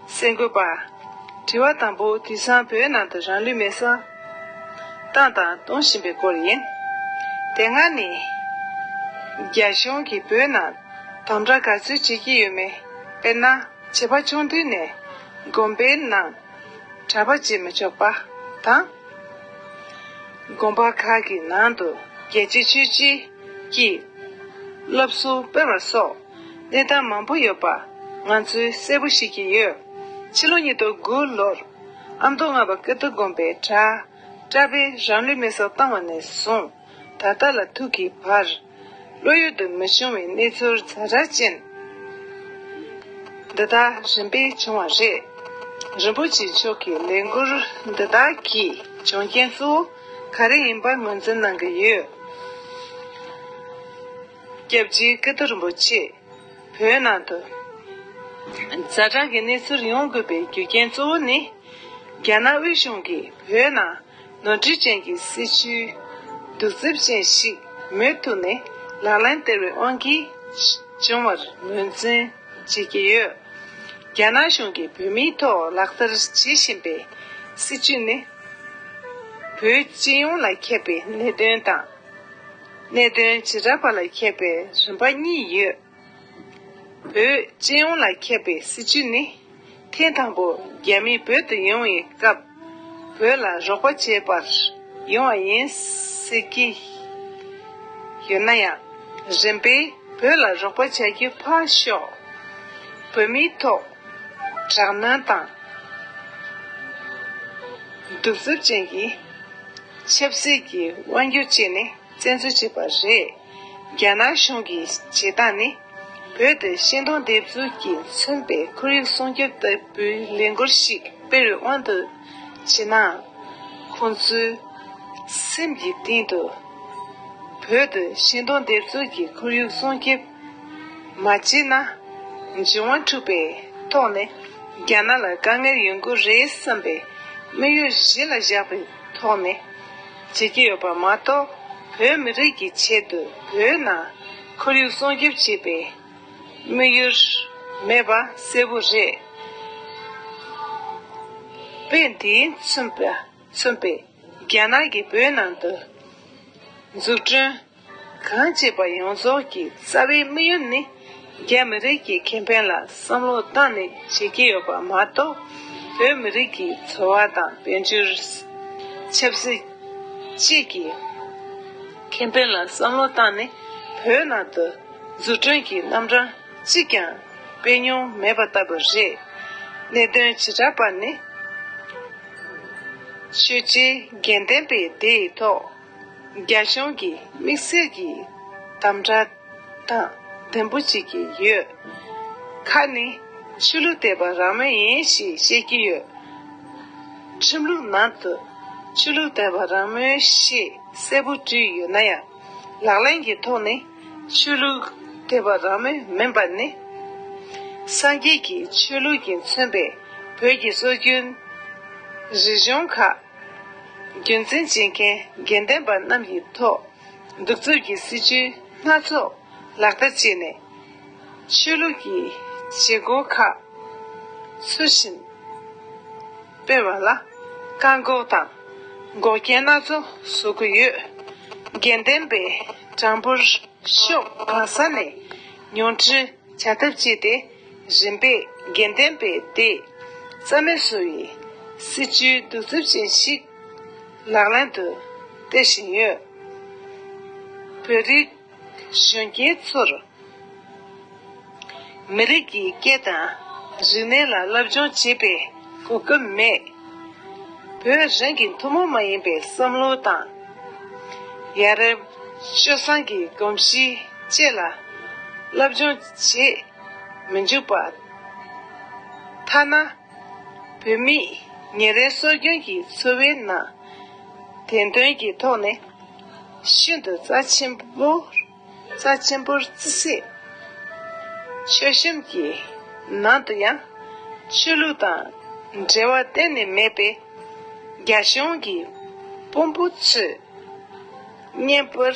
གསལ་འགོད་པ། དྲི་བ་དང་པོ་དེང་སང་བོད་ནང་དུ་རང་ལུས་མེར་བསྲེགས་བཏང་དང་གཏོང་བཞིན་པའི་སྐོར་ཡིན། དེ་སྔ་ནས་རྒྱ་གཞུང་གིས་བོད་ནང་དམ་དྲག་ག་ཚོད་བྱེད་ཀྱི་ཡོད་མེད་དཔེར་ན་བྱིས་པ་ཆུང་དུས་ནས་དགོན་པའི་ནང་གྲྭ་པ་བྱེད་མི་ཆོག་པ་དང། དགོན་པ་ཁག་གི་ནང་དུ་རྒྱལ་གཅེས་ཆོས་གཅེས་ཀྱི་སློབ་གསོ་སྤེལ་བ་སོགས། གནས་སྟངས་མང་པོ་ཡོད་པ་ང་ཚོས་གསལ་པོ་ཤེས་ཀྱི་ཡོད། ཕྱི་ལོ་ཉིས་སྟོང་དགུ་ལོར་ཨ་མདོ་རྔ་པ་ཀིརྟི་དགོན་པའི་གྲྭ་པས་རང་ལུས་མེ་སྲེག་བཏང་བ་ནས་བཟུང་ད་ལྟ་ལ་ཐུག་གི་བར། བློ་ཡུལ་དུ་མི་ཤོང་བའི་གནས་ཚུལ་རྫ་དྲ་ཅན་འདི་དག་རིམ་པས་བྱུང་བ་རེད། རིན་པོ་ཆེ་མཆོག་གི་ལས་འགུལ་འདི་དག་གི་འབྱུང་རྐྱེན་གཙོ་བོ་ག་རེ་ཡིན་པ་ངོས་འཛིན་གནང་གི་ཡོད། སྐྱབས་རྗེ་ཀི་ཏི་རིན་པོ་ཆེས། བོད་ནང་དུ། རྫ་དྲག་གི་གནས་ཚུལ་ཡོང་དགོས་པའི་རྒྱུ་རྐྱེན་གཙོ་བོ་ནི། རྒྱ་ནག་དབུས་གཞུང་གིས་བོད་ནང་ནོར་འཁྲུལ་ཅན་གྱི་སྲིད་བྱུས། གདུག་རྩུབ་ཅན་ཞིག་མུ་མཐུད་ནས་ལག་ལེན་སྟེར་བའི་དབང་གིས་བྱུང་བར་ངོས་འཛིན་བྱེད་ཀྱི་ཡོད། རྒྱ་ནག་གཞུང་གིས་བོད་མིའི་ཐོག་ལག་བསྟར་བྱེད་བཞིན་པའི་སྲིད་བྱུས་ནི། བོད་སྤྱི་ཡོངས་ལ་ཁྱབ་པའི་གནད་དོན་དང། གནད་དོན་བྱེ་བྲག་པ་ལ་ཁྱབ་པའི་རིམ་པ་གཉིས་ཡོད། བོད་སྤྱི་ཡོངས་ལ་ཁྱབ་པའི་སྲིད་བྱུས་ནི། ཐེངས་དང་པོ་རྒྱ་མི་བོད་དུ་ཡོང་བའི་སྐབས། བོད་ལ་རོགས་པ་བྱེད་པར་ཡོང་བ་ཡིན་ཟེར་གྱི་ཡོད་ན་ཡང། རིམ་པས་བོད་ལ་རོགས་པ་བྱ་རྒྱུ་ཕར་ཞོག་བོད་མིའི་ཐོག་དྲག་གནོན་དང། གདུག་རྩུབ་ཅན་གྱི། ཆབ་སྲིད་ཀྱི་དབང་སྒྱུར་བཅས་ནས་བཙན་འཛུལ་བྱས་པ་རེད། རྒྱ་ནག་གཞུང་གི་བྱེད་སྟངས་ནི། བོད་དུ་ཤིང་སྡོང་འདེབས་འཛུགས་ཀྱིས་མཚོན་པའི་ཁོར་ཡུག་སྲུང་སྐྱོབ་ལྟ་བུའི་ལས་འགུལ་ཞིག་དཔེར་དབང་དུ་བྱས་ན། ཁོང་ཚོའི་སེམས་ཀྱི་གཏིང་དུ། བོད་དུ་ཤིང་སྡོང་འདེབས་འཛུགས་ཀྱིས་ཁོར་ཡུག་སྲུང་སྐྱོབ། མ་བྱས་ན། འབྱུང་བ་འཁྲུགས་པས་དོགས་ནས་རྒྱ་ནག་ལ་དཀའ་ངལ་ཡོང་གི་རེད་བསམ་པའི་དམིགས་ཡུལ་གཞི་ལ་བཞག་པའི་ཐོག་ནས་བྱེད་ཀྱི་ཡོད་པ་མ་གཏོགས་བོད་མི་རིགས་ཀྱི་ཆེད་དུ་བོད་ནང་ཁོར་ཡུག་སྲུང་སྐྱོབ་བྱེད་པའི་དམིགས་ཡུལ་མེད་པ་གསལ་བོ་རེད། དཔེ་འདིས་མཚོན་པའི་རྒྱ་ནག་གིས་བོད་ནང་དུ་འཛུགས་སྐྲུན། གང་བྱེད་པ་ཡོངས་རྫོགས་ཀྱི་རྩ་བའི་དམིགས་ཡུལ་ནི། རྒྱ་མི་རིགས་ཀྱི་ཁེ་ཕན་ལ་བསམ་བློ་བཏང་ནས་བྱེད་ཀྱི་ཡོད་པ་མ་གཏོགས། བོད་མི་རིགས་ཀྱི་འཚོ་བ་དང་དཔལ་འབྱོར། ཆབ་སྲིད། བཅས་ཀྱི་ཁེ་ཕན་ལ་བསམ་བློ་བཏང་ནས་བོད་ནང་དུ་འཛུགས་སྐྲུན་གྱི་རྣམ་གྲངས་གཅིག་ཀྱང་སྤེལ་མྱོང་མེད་པ་ལྟ་བུ་རེད། གནད་དོན་བྱེ་བྲག་པ་ནི། ཆོས་རྗེ་རྒྱལ་མཚན་པས་དེའི་ཐོག། རྒྱ་གཞུང་གིས་དམིགས་བསལ་གྱི་དམ་དྲག་དང་བདེན་པོ་བྱེད་ཀྱི་ཡོད། ཁ་ནི་ཆོས་ལུགས་དད་པ་རང་མོས་ཡིན་ཞེས་བཤད་ཀྱི་ཡོད། ཁྲིམས་ལུགས་ནང་དུ་ཆོས་ལུགས་དད་པ་རང་མོས་ཞེས་གསལ་པོ་བྲིས་ཡོད་ན་ཡང་ལག་ལེན་གྱི་ཐོག་ནས་ཆོས་ལུགས་དད་པ་རང་མོས་མིན་པ་ནི། སངས་རྒྱས་ཀྱི་ཆོས་ལུགས་ཀྱིས་མཚོན་པའི་བོད་ཀྱི་སྲོལ་རྒྱུན་རིག་གཞུང་ཁག། རྒྱུན་འཛིན་བྱེད་མཁན་དགེ་འདུན་པ་རྣམས་ཡིན་ཐོག་གདུག་རྩུབ་ཀྱི་སྲིད་བྱུས་སྣ་ཚོགས་ལག་བསྟར་བྱས་ནས། ཆོས་ལུགས་ཀྱི་བྱེད་སྒོ་ཁག་ཚུལ་བཞིན་སྤེལ་བ་ལ་བཀག་འགོག་དང་འགོག་རྐྱེན་སྣ་ཚོགས་བཟོ་གི་ཡོད། དགེ་འདུན་པའི་གྲངས་འབོར་ཤོག་གང་ས་ནས་ཉུང་འཕྲི་བྱ་ཐབས་སྤྱད་དེ། རིམ་པས་དགེ་ལྡན་པའི་སྡེས། རྩ་མེད་བཟོ་བའི། སྲིད་ཇུས་གདུག་རྩུབ་ཅན་ཞིག། ལག་ལེན་དུ། སྟེར་བཞིན་ཡོད། བོད་རིགས། གཞོན་སྐྱེས་ཚོར། མི་རིགས་ཀྱི་སྐད་དང། རིག་གནས་ལ་སློབ་སྦྱོང་བྱེད་པའི། གོ་སྐབས་མེད། བོད་རང་གི་ཐུན་མོང་མ་ཡིན་པའི་བསམ་བློ་དང། ཡ་རབས། སྤྱོད་བཟང་གི་གོམས་གཤིས་བཅས་ལ་སློབ་སྦྱོང་བྱེད་མི་འཇུག་པ། ཐ་ན། བོད་མི་ཉིན་རེའི་སྲོལ་རྒྱུན་གྱི་འཚོ་བའི་ནང། བདེན་དོན་གྱི་ཐོག་ནས་ཤིན་ཏུ་རྩ་ཆེན་པོ། རྩ་ཆེན་པོར་བརྩི་སྲིད། ཆོས་གཤམ་གྱི་ནང་དུ་ཡང། ཆོས་ལུགས་དང་འབྲེལ་བ་གཏན་ནས་མེད་པའི། རྒྱ་གཞུང་གི་དཔོན་པོ་ཚོས། བརྙན་པར།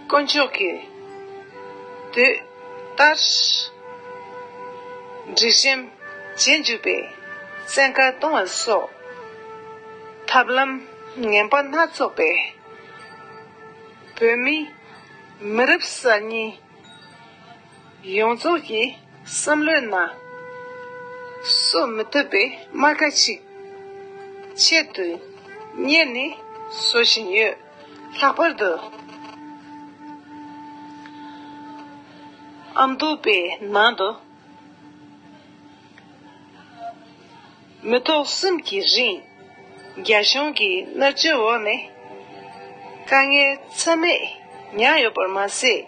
དཀོན་མཆོག་གིས་དུས་ལྟར། འབྲི་ཞིང་བྱེད་འཇུག་པའི་བཙན་བཀའ་གཏོང་བ་སོགས། ཐབས་ལམ་ངན་པ་སྣ་ཚོགས་པས། བོད་མི་མི་རབས་གསར་རྙིང། ཡོངས་རྫོགས་ཀྱི་བསམ་བློའི་ནང། གསོད་མི་ཐུབ་པའི་རྨ་ཁ་ཅིག། ཆེད་དུ་གཉེར་ནས་བཟོ་བཞིན་ཡོད། ལྷག་པར་དུ། ཨ་མདོ་པའི་ནང་དུ། མི་ཐོག་གསུམ་གྱི་རིང། རྒྱ་གཞུང་གི་མནར་གཅོད་འོག་ནས། དཀའ་ངལ་ཚད་མེད་མྱངས་ཡོད་པར་མ་ཟད།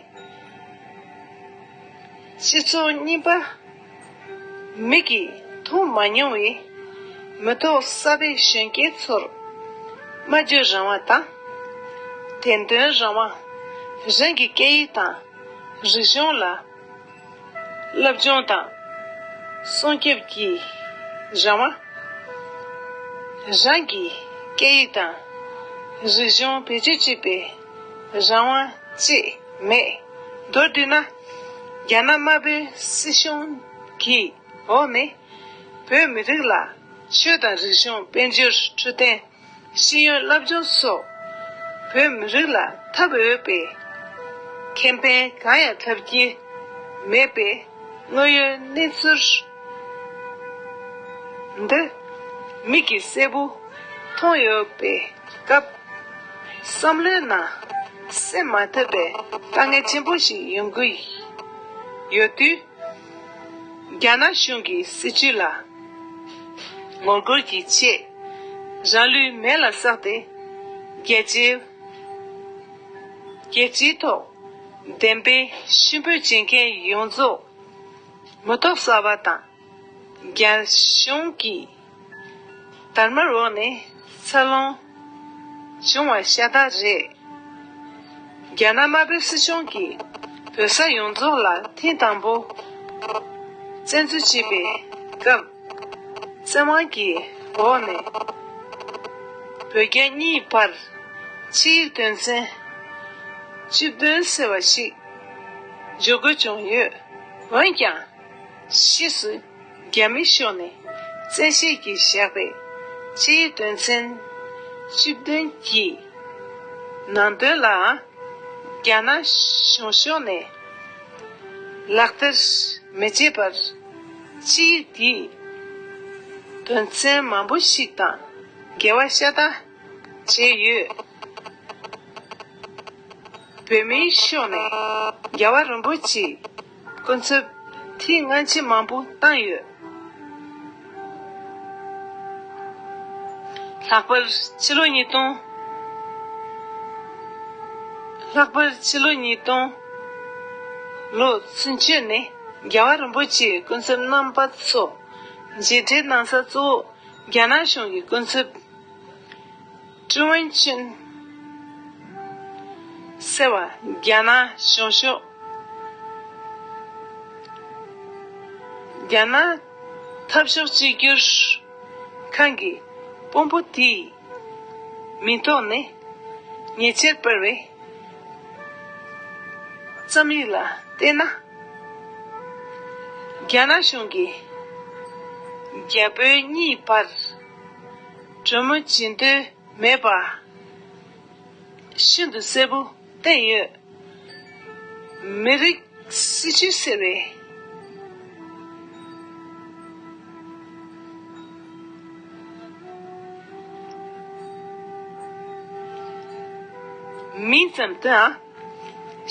སྤྱི་ཚོགས་རྙིང་པ་མིག་གིས་མཐོང་མ་མྱོང་བའི། མི་ཐོག་གསར་པའི་གཞོན་སྐྱེས་ཚོར། སྨྲ་བརྗོད་རང་དབང་དང། བདེན་དོན་རང་དབང། རང་གི་སྐད་ཡིག་དང་རིག་གཞུང་ལ། བསླབ་སྦྱོང་དང། སྲུང་སྐྱོབ་ཀྱི་རང་དབང། རང་གི་སྐད་ཡིག་དང་རིག་གཞུང་བེད་སྤྱོད་བྱེད་པའི་རང་དབང་བཅས་མེད། མདོར་བསྡུས་ན། རྒྱ་ནག་དམར་པོའི་སྲིད་གཞུང་གི་འོག་ནས་བོད་མི་རིགས་ལ་ཆོས་དང་རིག་གཞུང་དཔལ་འབྱོར་འཕྲོད་བསྟེན། ཤེས་ཡོན་བསླབ་སྦྱོང་སོགས་བོད་མི་རིགས་ལ་ཐབས་འོས་པའི་ཁེ་ཕན་གང་ཡང་ཐོབ་ཀྱི་མེད་པའི་དངོས་ཡོད་གནས་ཚུལ་འདི་མིག་གིས་གསལ་པོ་མཐོང་ཡོད་པའི་སྐབས། བསམ་བློའི་ནང་སེལ་མ་ཐུབ་པའི་དཀའ་ངལ་ཆེན་པོ་ཞིག་ཡོང་གི་ཡོད་དུས། རྒྱ་ནག་གཞུང་གི་སྲིད་བྱུས་ལ་ངོ་རྒོལ་གྱི་ཆེད། རང་ལུས་མེ་ལ་བསྲེགས་ཏེ་རྒྱལ་སྤྱིའི་ཐོག་བདེན་དཔེ་གཤིན་པོ་སྦྱིན་མཁན་ཡོངས་རྫོགས་མི་ཐོག་གསར་བ་དང་རྒྱ་གཞུང་གིས་དར་དམར་འོག་ནས་ཚ་རླུང། འབྱུང་བ་ཤ་སྟག་རེད། རྒྱ་ནག་དམར་པོའི་སྲིད་གཞུང་གིས་བོད་ས་ཡོངས་རྫོགས་ལ་ཐེངས་དང་པོ་བཙན་འཛུལ་བྱས་པའི་སྐབས། བཙན་དབང་གི་འོག་ནས་བོད་རྒྱ་གཉིས་བར་ཕྱི་ཡིག་དོན་ཚན་བཅུ་བདུན་ཟེར་བ་ཞིག་འཇོག་དགོས་བྱུང་ཡོད། འོན་ཀྱང། ཕྱིས་སུ། རྒྱ་མི་ཤོག་ནས་བཙན་བཤད་ཀྱིས་བཞག་པའི་སྤྱིའི་དོན་ཚན་བཅུ་བདུན་གྱི་ནང་དོན་ལའང་རྒྱ་ནག་གཞུང་ཤོག་ནས་ལག་བསྟར་མི་བྱེད་པར་སྤྱིའི་དེའི་དོན་ཚན་མང་པོ་ཞིག་དང་འགལ་བ་ཤ་སྟག་བྱས་ཡོད། བོད་མིའི་ཤོག་ནས་རྒྱ་བ་རིན་པོ་ཆེའི་ཀུན་རྫོབ། དེའི་སྔ་ཕྱི་མང་པོ་བཏང་ཡོད། ལྷག་པར་ཕྱི་ལོ་ཉིས་སྟོང། ལྷག་པར་ཕྱི་ལོ་ཉིས་སྟོང། ལོ་ཚུན་ཆོད་ནས་རྒྱལ་བ་རིན་པོ་ཆེའི་ཀུན་རྫོབ་རྣམ་པ་ཚོ། མཇལ་འཕྲད་གནང་ས་གཙོ་བོ་རྒྱ་ནག་གཞུང་གི་ཀུན་རྫོབ། ཀྲི་ཝུན་ཅིན། ཟེར་བ་རྒྱ་ནག་གཞུང་ཕྱོགས། རྒྱ་ནག་འཐབ་ཕྱོགས་གཅིག་གྱུར་ཁང་གི་དཔོན་པོ་དེའི་མིང་ཐོག་ནས་ཉེ་ཆར་སྤེལ་བའི་རྩོམ་ཡིག་ལ་བལྟས་ན། རྒྱ་ནག་གཞུང་གིས་རྒྱ་བོད་གཉིས་བར། གྲོ་མོ་བྱིན་ཏེ་མེད་པར། ཤིན་ཏུ་གསལ་པོ་བསྟན་ཡོད། མི་རིགས་སྲིད་ཇུས་ཟེར་བའི། མིང་ཙམ་དུའང་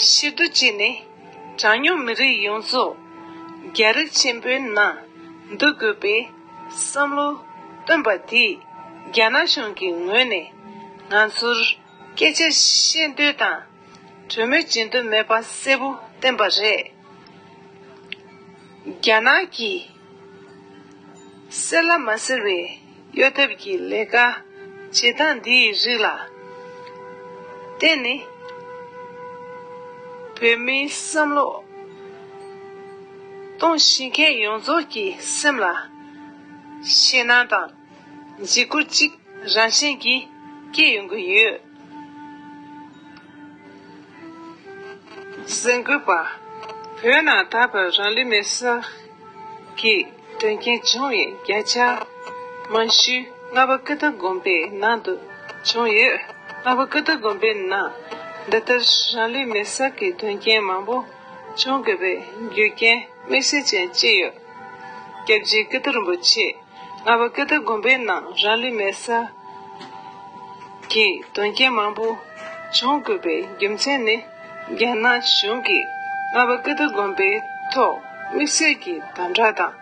ཕྱིར་བསྡུ་བྱས་ནས་གྲངས་ཉུང་མི་རིགས་ཡོངས་རྫོགས་རྒྱ་རིགས་ཆེན་པོའི་ནང་བསྡུ་དགོས་པའི། བསམ་བློ། སྟོན་པ་འདིས་རྒྱ་ནག་གཞུང་གི་ངོས་ནས། ང་ཚོར་སྐད་ཆ་བཤད་འདོད་དང། གྲོས་མོལ་བྱེད་འདོད་མེད་པ་གསལ་པོ་བསྟན་པ་རེད། རྒྱ་ནག་གིས། གསལ་ལ་མ་གསལ་བའི་གཡོ་ཐབས་ཀྱི་ལས་ཀ་བྱེད་སྟངས་འདིའི་རིགས་ལ་བརྟེན་ནས། བོད་མིའི་བསམ་བློ། སྟོང་བཞི་མཁའི་ཡོངས་རྫོགས་ཀྱི་སེམས་ལ། ཞེན་སྣང་དང། འཇིགས་སྐུལ་གཅིག་རང་བཞིན་གྱིས་སྐྱེ་ཡོང་གི་ཡོད། གཟེངས་བསྐུལ་པ། བོད་ནང་ད་བར་རང་ལུས་མེར་བསྲེགས་ཀྱི་དོན་རྐྱེན་བྱུང་བའི་བརྒྱ་ཆ་མང་ཤོས་རྔ་པ་ཀི་ཏི་དགོན་པའི་ནང་དུ་བྱུང་ཡོད། རྔ་པ་ཀི་ཏི་དགོན་པའི་ནང་འདི་ལྟར་རང་ལུས་མེར་བསྲེགས་ཀྱི་དོན་རྐྱེན་མང་པོ། ཅུང་དགོས་པའི་རྒྱུ་རྐྱེན་དམིགས་བསལ་ཅན་གཅིག་ཡོད། སྐྱབས་རྗེ་སྐུ་སྟོད་རིན་པོ་ཆེས་རྔ་བ་ཀི་ཏི་དགོན་པའི་ནང་རང་ལུས་མེར་བསྲེགས་ཀྱི་དོན་རྐྱེན་མང་པོ་བྱུང་དགོས་པའི་རྒྱུ་མཚན་ནི། རྒྱ་ནག་གཞུང་གིས་རྔ་བ་ཀི་ཏི་དགོན་པའི་ཐོག་དམིགས་བསལ་གྱི་དམ་དྲག་དང།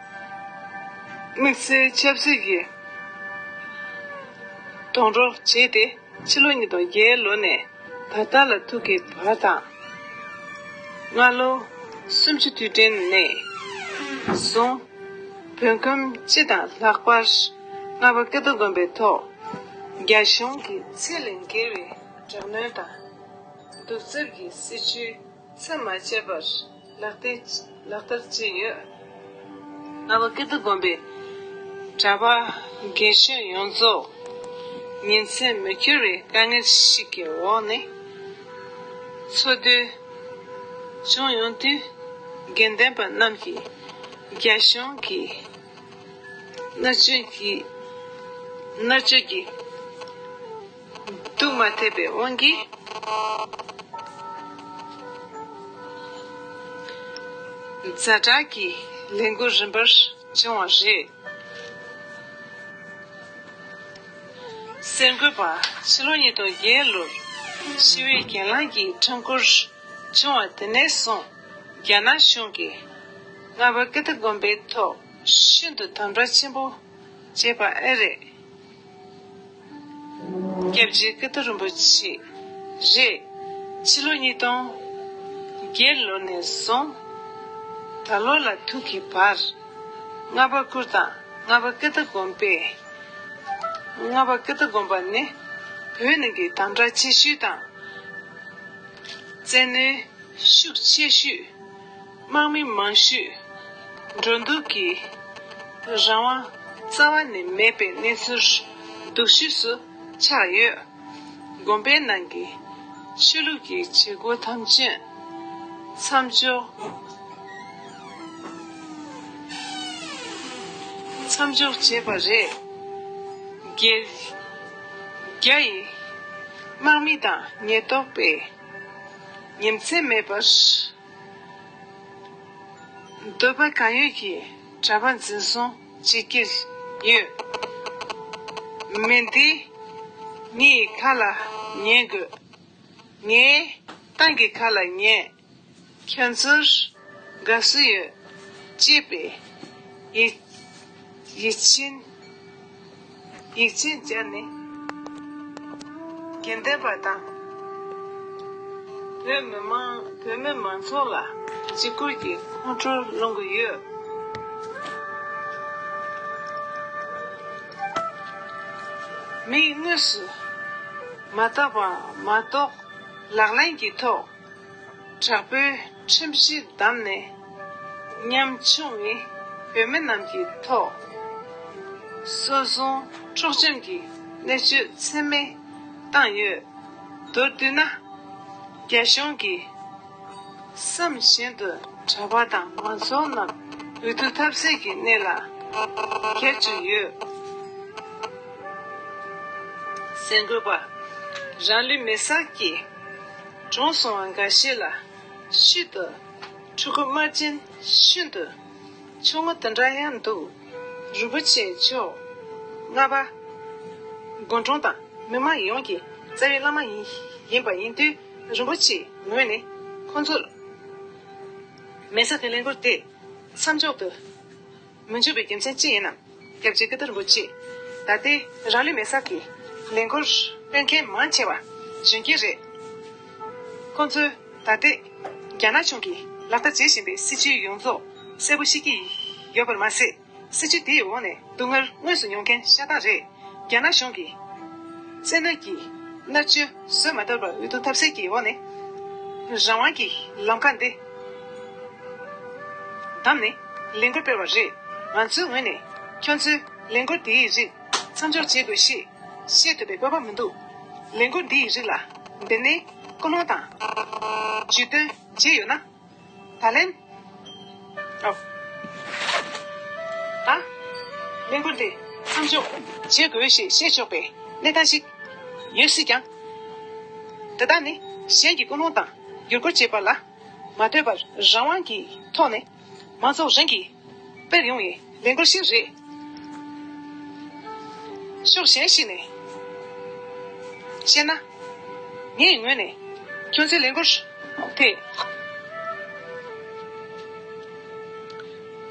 དམིགས་བསལ་ཆབ་སྲིད་ཀྱི་རྡུང་རོགས་བྱས་ཏེ། ཕྱི་ལོ་ཉིས་སྟོང་བརྒྱད་ལོ་ནས་ད་ལྟ་ལ་ཐུག་གི་བར་དང། སྔ་ལོ་སུམ་ཅུ་དུས་དྲན་ནས་བཟུང་བོད་ཁམས་སྤྱི་དང་ལྷག་པར་རྔ་པ་ཀི་རྡོ་དགོན་པའི་ཐོག་རྒྱ་གཞུང་གི་ཚད་ལས་འགལ་བའི་དྲག་གནོན་དང་གདུག་རྩུབ་ཀྱི་སྲིད་བྱུས། ཚད་མ་བཅད་པར་ལག་ལྟའི་ལག་བསྟར་བྱས་ཡོད། རྔ་བ་ཀིརྟི་དགོན་པའི་གྲྭ་པ་དགེ་བཤེས་ཡོངས་རྫོགས་ཉིན་མཚན་མི་འཁྱོལ་བའི་དཀའ་ངལ་ཞིག་གི་འོག་ནས་འཚོ་སྡོད་བྱུང་ཡོང་དུས་དགེ་ལྡན་པ་རྣམས་ཀྱིས་རྒྱ་གཞུང་གིས་མནར་གཅོད་ཀྱིས་དུ་མ་ཐེབས་པའི་དབང་གིས། ཛྭ་དྲག་གི་ལས་འགུལ་རིམ་པར་བྱུང་བ་རེད། གསར་འགོད་པ་ཕྱི་ལོ་ཉིས་སྟོང་བརྒྱད་ལོར་ཤི་བོའི་གྱེན་ལངས་ཀྱི་འཕྲང་འཁོར་བྱུང་བ་དེ་ནས་བཟུང་རྒྱ་ནག་གཞུང་གིས་རྔ་བ་ཀི་ཏི་དགོན་པའི་ཐོག་ཤིན་ཏུ་དམ་དྲག་ཆེན་པོ་བྱས་པ་ཨེ་རེད། སྐྱབས་རྗེ་སྐུ་སྟོད་རིན་པོ་ཆེ། རེད། ཕྱི་ལོ་ཉིས་སྟོང། བརྒྱད་ལོ་ནས་བཟུང། ད་ལོ་ལ་ཐུག་གི་བར། ལྔ་པ་བསྐུར་དང་ལྔ་པ་སྐུ་སྟ་སྒོམ་པས། ལྔ་པ་སྐུ་སྟ་སྒོམ་པ་ནི། བོད་ནང་གི་དམ་དྲག་ཆེ་ཤོས་དང། བཙན་གནོན། ཤུགས་ཆེ་ཤོས། དམག་མི་མང་ཤོས་འགྲོ་འདུག་གི་རང་དབང་རྩ་བ་ནས་མེད་པའི་གནས་ཚུལ་སྡུག་ཤོས་སུ་ཆགས་ཡོད། དགོན་པའི་ནང་གི་ཆོས་ལུགས་ཀྱི་བྱེད་སྒོ་ཐམས་ཅད་མཚམས་འཇོག་བྱས་པ་རེད། རྒྱའི་དམག་མི་དང་ཉེན་རྟོག་པས་ཉེམས་ཚད་མེད་པར། འདོད་པ་གང་ཡོད་ཀྱི་གྲྭ་པ་འཛིན་བཟུང་བྱེད་ཀྱི་ཡོད། མི་འདི་ངའི་ཁ་ལ་ཉན་དགོས། ངའི་ཏང་གི་ཁ་ལ་ཉན། ཁྱོད་ཚོར་དགའ་བསུ་ཡོད། ཅེས་པའི་ཡིད་ཆེན། ཡིག་ཆའི་སྦྱར་ནི། དགེ་ལྡན་པ་དང། བོད་མི་མང་བོད་མི་མང་ཚོགས་ལ་འཇིགས་སྐུལ་གྱི་ཁོང་ཁྲོ་སློང་གི་ཡོད། མིག་དངོས་སུ་མ་བལྟ་བར་མ་གཏོགས་ལག་ལེན་གྱི་ཐོག་དྲག་པོའི་ཁྲིམས་གཞི་བསྡམས་ནས། ཉམ་ཆུང་བའི་བོད་མི་རྣམས་ཀྱི་ཐོག། སྲོལ་བཟུང་འཕྲོག་བཅོམ་གྱི་གནས་བཅོས་ཚད་མེད་བཏང་ཡོད། མདོར་བསྡུས་ན། རྒྱ་གཞུང་གིས་བསམ་བཞིན་དུ་གྲྭ་པ་དང་མང་ཚོགས་རྣམས་འོས་བསྡུ་ཐབས་ཟད་ཀྱི་གནས་ལ་ཁྱེར་བཅུག་ཡོད། གསར་འགོད་པ། རང་ལུས་མེ་སར་སྐྱེས། གྲོངས་སོང་བ་འགའ་ཤས་ལ། ཤུལ་དུ། ཕྲུ་གུ་དམར་རྗེན་ཤུན་ཏུ། ཆུང་ངུ་འདི་འདྲ་ཡང་འདུག། རི་བོ་ཆེ་མཆོག། རྔ་བ། དགོན་གྲོང་དང་མི་དམངས་ཡོངས་ཀྱི་རྩ་བའི་བླ་མ་ཡིན་པ་ཡིན་དུས་རིན་པོ་ཆེའི་ངོས་ནས་ཁོང་ཚོར་མལ་ས་དེ་ལེན་སྐོར་དེ་མཚམས་འཇོག་ཏུ། མི་འཇུག་པའི་རྒྱུ་མཚན་ཅི་ཡིན་ནམ། སྐྱབས་རྗེ་ཀི་ཏུ་རིན་པོ་ཆེས། ད་ལྟའི་རང་ལུས་མེ་བསགས་ཀྱི། ལས་འགུལ་སྤེལ་མཁན་མང་ཆེ་བ། གཞོན་སྐྱེས་རེད། ཁོང་ཚོས་ད་ལྟའི། རྒྱ་ནག་གཞུང་གིས་ལག་བསྟར་བྱེད་བཞིན་པའི་སྲིད་བྱུས་ཡོངས་རྫོགས་གསལ་པོ་ཤེས་ཀྱི། ཡོད་པར་མ་ཟད། སྲིད་བྱུས་དེའི་འོག་ནས་སྡུག་བསྔལ་དངོས་སུ་མྱོང་མཁན་ཤ་སྟག་རེད། རྒྱ་ནག་གཞུང་གིས་བཙན་གནོན་གྱིས་མནར་གཅོད་བཟོད་མ་ཐབས་པར་འོས་བསྡུ་ཐབས་ཟད་ཀྱི་འོག་ནས་རང་དབང་གི་ལམ་ཁ་འདི་བདམས་ནས་ལས་འགུལ་སྤེལ་བ་རེད། ང་ཚོའི་ངོས་ནས་ཁྱོད་ཚོས་ལས་འགུལ་འདིའི་རིགས་མཚམས་འཇོག་བྱེད་དགོས་ཞེས་བཤད་འདོད་པའི་དཔོད་པ་མི་འདུག་ལས་འགུལ་འདིའི་རིགས་ལ་འདི་ནས་ཀུན་སློང་དང་ཇུས་འདོན་བྱས་ཡོད་ན། ད་ལན། ཨོ། ད། ལས་འགུལ་འདི་མཚམས་འཇོག་བྱེད་དགོས་ཞེས་བཤད་ཆོག་པའི་གནས་སྟངས་ཤིག་ཡོད་སྲིད་ཀྱང། དེ་དག་ནི་གཞན་གྱི་ཀུན་སློང་དང་བསྒྱུར་བཀོད་བྱེད་པ་ལ་མ་ལྟོས་པར་རང་དབང་གི་ཐོག་ནས་མང་ཚོགས་རང་གིས་དཔེར་ཡོང་བའི་ལས་འགུལ་ཞིག་རེད། ཕྱོགས་གཞན་ཞིག་ནས་བཤད་ན། ངའི་ངོས་ནས་ཁྱོད་ཚོའི་ལས་འགུལ་དེ་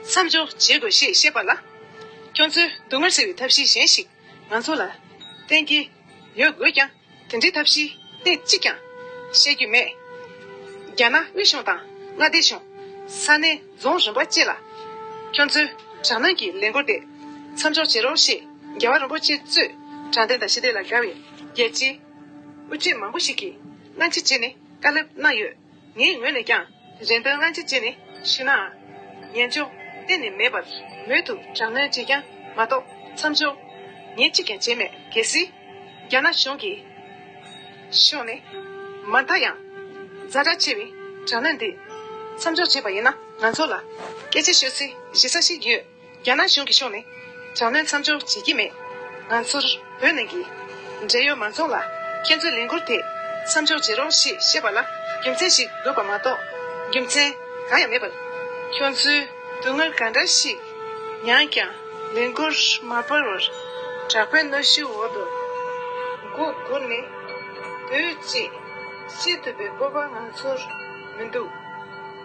མཚམས་འཇོག་བྱེད་དགོས་ཞེས་བཤད་པ་ལ། ཁྱོད་ཚོས་སྡུག་བསྔལ་སེལ་བའི་ཐབས་ཤེས་གཞན་ཞིག་ང་ཚོ་ལ་བསྟན་གྱི་ཡོད་དགོས་ཀྱང། དེ་འདྲའི་ཐབས་ཤེས་གནས་གཅིག་ཀྱང་བཤད་རྒྱུ་མེད། རྒྱ་ནག་དབུས་གཞུང་དང་མངའ་སྡེ་གཞུང། ས་གནས་རྫོང་རིམ་པ་བཅས་ལ། ཁྱོད་ཚོས་དྲག་གནོན་གྱི་ལས་འགུལ་དེ་མཚམས་འཇོག་བྱེད་རོགས་ཞེས་རྒྱལ་བ་རིན་པོ་ཆེ་གཙོས་དྲང་བདེན་དང་ཤེས་ལྡན་ལ་དགའ་བའི་རྒྱལ་སྤྱིའི་དབུ་ཁྲིད་མང་པོ་ཞིག་གིས་སྔ་ཕྱི་བྱས་ནས་བཀའ་སློབ་གནང་ཡོད། ངའི་ངོས་ནས་ཀྱང། རེ་འདོད་སྔ་ཕྱི་ཅི་ནས་ཞུས་ནའང། ཉན་ཆོག་གཏན་ནས་མེད་པར། མོས་ཐུག་དྲག་གནོན་བྱས་ཀྱང་མ་གཏོགས་མཚམས་འཇོག། ངས་གཅིག་ཀྱང་བྱས་མེད་གལ་སྲིད། རྒྱ་ནག་གཞུང་གིས་ཕྱོགས་ནས། མ་མཐའ་ཡང། རྫ་དྲག་ཆེ་བའི་དྲག་གནོན་འདི། མཚམས་འཇོག་བྱས་པ་ཡིན་ན་ང་ཚོ་ལ། སྐད་ཆ་ཤོད་སའི་གཞི་ས་ཞིག་ཡོད། རྒྱ་ནག་གཞུང་གི་ཕྱོགས་ནས་དྲག་གནོན་མཚམས་སྦྱོར་བྱེད་ཀྱི་མེད། ང་ཚོར་བོད་ནང་གི་འབྲེལ་ཡོད་མང་ཚོགས་ལ་ཁྱེད་ཚོའི་ལས་འགུར་དེ་མཚམས་འཇོག་བྱེད་རོགས་ཞེས་བཤད་པ་ལ་རྒྱུ་མཚན་ཞིག་དགོས་པ་མ་གཏོགས་རྒྱུ་མཚན་གང་ཡང་མེད་པར། ཁྱོད་ཚོས་སྡུག་བསྔལ་ག་འདྲ་ཞིག་མྱངས་ཀྱང་ལས་འགུར་མ་སྤར་བར་དྲག་པོའི་གནོད་གཞིའི་འོག་ཏུ་མགོ་སྒུར་ནས་སྡོད་ཅེས་བཤད་ཐུབ་པའི་སྤོབས་པ་ང་ཚོར་མི་འདུག།